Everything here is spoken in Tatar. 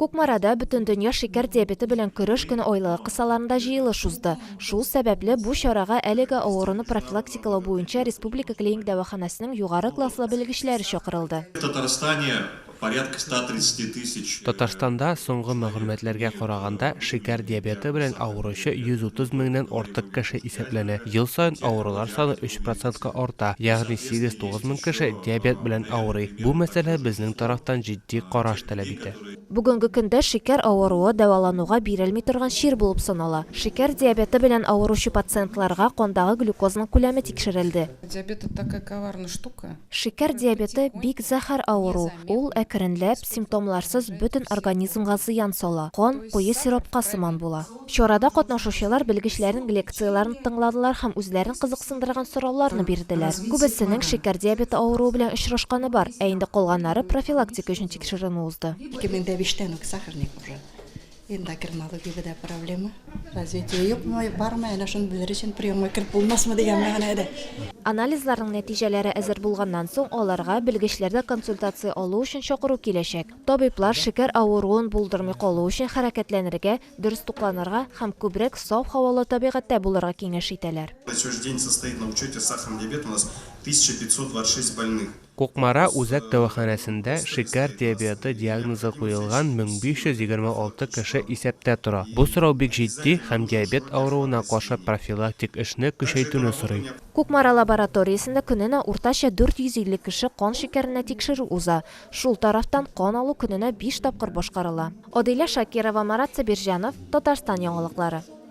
Кукмарада Бөтендөнья шикәр диабеты белән көрәш көне айлыгы кысаларында җыелыш узды. Шул сәбәпле, бу чарага әлеге авыруны профилактикалау буенча республика клиник дәваханәсенең югары класслы белгечләре чакырылды. В Татарстане порядка 130 тысяч. Татарстанда, соңгы мәгълүматларга караганда, шикәр диабеты белән авыручы 130 меңнән артык кеше исәпләнә. Ел саен авырулар саны 3 процентка арта, ягъни 8-9 мең кеше диабет белән авырый. Бу мәсьәлә безнең тарафтан җитди караш таләп итә. әйтте. Бүгенге көндә шикәр авыруы дәвалануга бирелми торган чир булып санала. Шикәр диабеты белән авыручы пациентларга кандагы глюкозаның күләме тикшерелде. Шикәр диабеты, бик зәһәр авыру. Ул, әкренләп, симптомларсыз бөтен организмга зыян сала. Кан куе сиропка сыман була. Чарада катнашучылар белгечләрнең лекцияләрен тыңладылар һәм үзләрен кызыксындырган сорауларны бирделәр. Күбесенең шикәр диабеты авыруы белән очрашканы бар, ә инде калганнары профилактика өчен тикшеренү узды. 2005 тән үк сахарник уже эндокринологиядә дә проблема, развитие юкмы, бармы, әнә шуны белер өчен приемга кереп булмасмы дигән мәгънәдә. Анализларның нәтиҗәләре әзер булганнан соң, аларга белгечләрдән консультация алу өчен чакыру киләчәк. Табиблар шикәр авыруын булдырмый калу өчен хәрәкәтләнергә, дөрес тукланырга һәм күбрәк саф һавалы табигатьтә булырга киңәш итәләр. Кукмара үзәк дәваханәсендә шикәр диабеты диагнозы куелган 1526 кеше исәптә тора. Бу сорау бик җитди һәм диабет авыруына каршы профилактик эшне көчәйтүне сорый. Кукмара лабораториясендә көненә уртача 450 кеше кан шикәренә тикшерү уза. Шул тарафтан кан алу көненә биш тапкыр башкарыла. Адилә Шакирова, Марат Сабирҗанов, Татарстан яңалыклары.